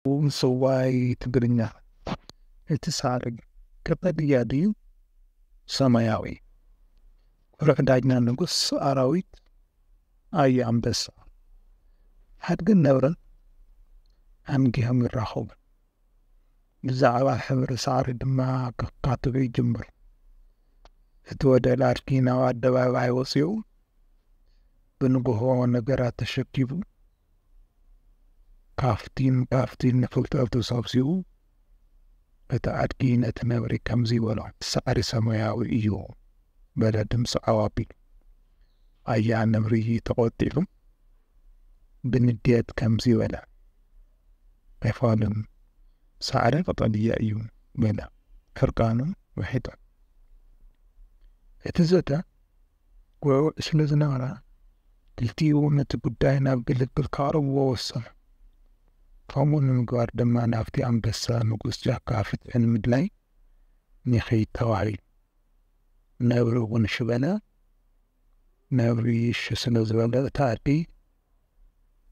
ውምስዋይ ትግርኛ እቲ ሳዕሪ ቀጠልያ ድዩ ሰማያዊ? ኩርዕ ዳኛ ንጉስ ኣራዊት ኣዩ ኣንበሳ ኣድግን ነብርን ኣንጊሆም ይራኸቡ ብዛዕባ ሕብሪ ሳዕሪ ድማ ከካትዑ ይጅምሩ እቲ ወደል ኣድጊ ናብ ኣደባባይ ወጺኡ ብንግሆ ነገራት ተሸኪቡ ካፍቲን ካፍቲን ንፍልጠት ተሰብሲቡ እቲ ኣድጊ ነቲ ነብሪ ከምዚ በሎ፣ ሳዕሪ ሰማያዊ እዩ በለ ድምፂ ዓው ኣቢሉ። ኣያ ነብሪ ተቖጢዑ ብንዴት ከምዚ በለ፣ ኣይፋሉን፣ ሳዕሪ ቀጠልያ እዩ በለ ሕርቃኑ ውሒጡ። እቲ ዘተ ጎብእ ስለ ዝነበረ፣ ክልቲኡ ነቲ ጉዳይ ናብ ግልግል ከቕርብዎ ወሰኑ። ከምኡ ንምግባር ድማ ናብቲ ኣንበሳ ንጉስ ጫካ ፍትሒ ንምድላይ ንኺድ ተባሂሉ። ነብሪ እውን እሺ በለ። ነብሪ እሺ ስለ ዝበለ እታ ኣዲ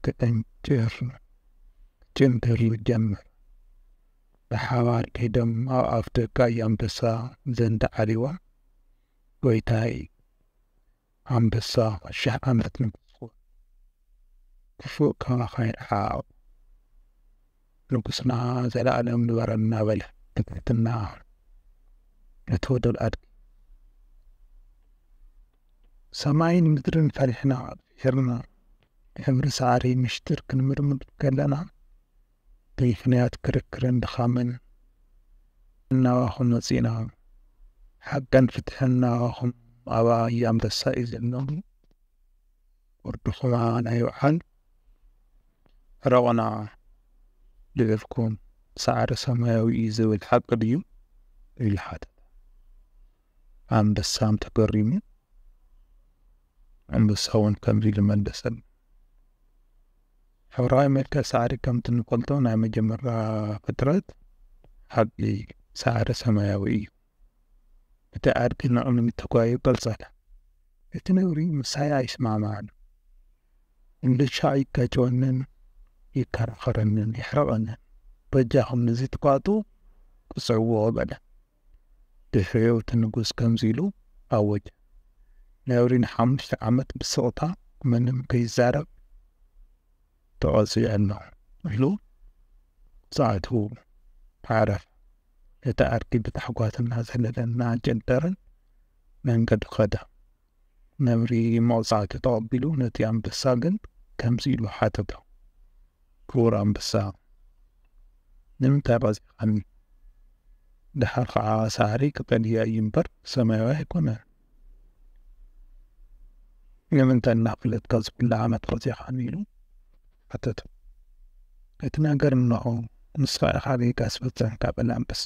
ትዕንጭር ትጭንድር ጀመር። ብሓባር ከይዶም ኣብ ኣፍ ደጋ ኣንበሳ ዘንድ ዓሪቦም። ጎይታይ ኣንበሳ ሽሕ ዓመት ንጉስ ኩን ክፉእ ከማኻ ይርሓቅ ንጉስና ዘላኣለም ንበረልና በለ ብትሕትና ነቲ ወደል ኣድጊ ሰማይን ምድርን ፈሪሕና ፊሒርና ሕብሪ ሳዕሪ ምሽጢር ክንምርምር ከለና ብምኽንያት ክርክርን ድኻምን እናባኹ መጺእና ሓቅን ፍትሕን ናባኹም ኣብ ኣያ ኣንበሳ እዩ ዘሎ ወርድኹም ኣባና ይውዓል ዕረቑና ልዕልኩም ሳዕሪ ሰማያዊ እዩ ዝብል ሓቂ ድዩ ኢሉ ሓተተ ኣንበሳም ተገሪሙ ኣንበሳ እውን ከምዚ ኢሉ መለሰሉ ሕብራዊ መልክዕ ሳዕሪ ከምቲ እንፈልጦ ናይ መጀመርታ ፍጥረት ዓድጊ ሳዕሪ ሰማያዊ እዩ። እቲ ኣድጊ ንቕድሚት ተጓዩ ቀልፀለ። እቲ ነብሪ ምሳይ ኣይስማዕማዕን፣ እንድሻዕ ይጋጨወንን ይከራኸረንን የሕርቐንን፣ በጃኹም ንዚ ትኳዕቱ ቅፅዕዎ በለ። ድሕሪኡ እቲ ንጉስ ከምዚ ኢሉ ኣወጀ፣ ነብሪ ንሓሙሽተ ዓመት ብስቕታ ምንም ከይዛረብ ተቐጺዑ ኣሎ ኢሉ ጸዓቱ ዓረፈ። እቲ ኣድጊ ብታሕጓስ እናዘለለን እናኣንጨንጠረን መንገዱ ከደ። ነብሪ መቕጻዕቲ ተቐቢሉ ነቲ ኣንበሳ ግን ከምዚ ኢሉ ሓተቶ፣ ክቡር ኣንበሳ፣ ንምንታይ ቐጺዕኻኒ? ደሓር ኸዓ ሳዕሪ ቀጠልያ እዩ እምበር ሰማያዊ ኣይኮነን። ንምንታይ እናፈለጥካ ዝብላዕ ኣመት ቐጺዕኻኒ? ኢሉ ሓተቶ። እቲ ነገር እንሆ፣ ንስኻ ኢኻ ጌጋ ዝፈጸምካ በለ ኣንበሳ።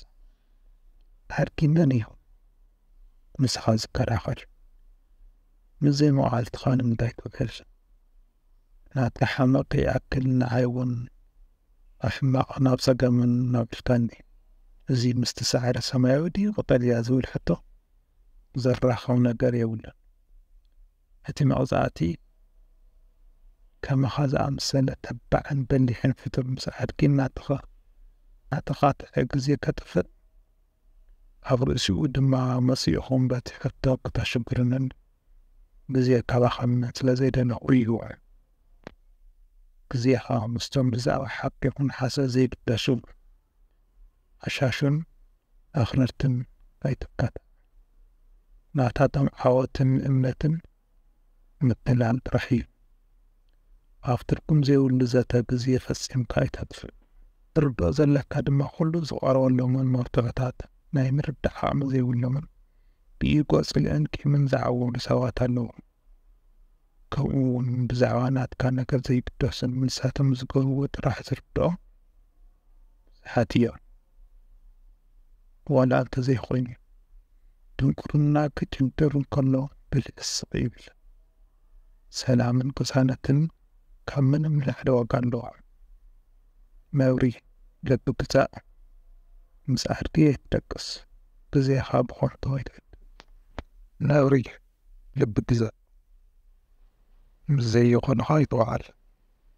ኣድጊ መን እዩ? ንስኻ ዝከላኸል ምስ ዘይመቓልትኻ ንምንታይ ትውዕል ናትካ ሓመቕ ይኣክል ንዓይ እውን ኣሕማቕ ናብ ጸገምን ናብልካኒ እዚ ምስቲ ሳዕሪ ሰማያዊ ድዩ ቀጠልያ ዝብል ሕቶ ዘራኸብ ነገር የብሉን እቲ መቕጻዕቲ ከማኻ ዝኣምሰለ ተባዕን በሊሕን ፍጡር ምስ ኣድጊ ናትኻ ናትኻ ትሕግዜ ከጥፍእ ኣብ ርእሲኡ ድማ መጺእኹም በቲ ሕቶ ክተሽግሩንን ግዜ ከባኽኑንን ስለ ዘይደለኹ እዩ። ግዜኻ ምስቶም ብዛዕባ ሓቂ ይኹን ሓሶት ዘይግደሱ ኣሻሹን ኣኽረርትን ኣይትካታዕ። ናታቶም ዓወትን እምነትን ምትላል ጥራሕ እዩ። ኣብ ትርጉም ዘይብሉ ዘተ ግዜ ፈጺምካ ኣይተጥፍእ። ትርድኦ ዘለካ ድማ ኩሉ ዝቐርበሎምን መርትዖታት ናይ ምርዳእ ዓቕሚ ዘይብሎምን ብኢጎ ጽልእን ቂምን ዝዓወዱ ሰባት ኣለዉ። ከምኡ ውን ብዛዕባ ናትካ ነገር ዘይግደሱን ንሳቶም ዝገብርዎ ጥራሕ ዝርድኦም ብዙሓት እዮም። ዋላ እንተዘይኮይኑ ድንቁርና ክጭድር እንከሎ ብልሒ ስቅ ይብል። ሰላምን ቅሳነትን ካብ ምንም ንላዕሊ ዋጋ ኣለዎ። ነብሪ ልቢ ግዛእ ምስ ኣድጊ ኣይትደቅስ ግዜኻ ብኾንቶ ኣይተዕድል። ነብሪ ልቢ ግዛእ ምስ ዘይኾንኻ ኣይትውዓል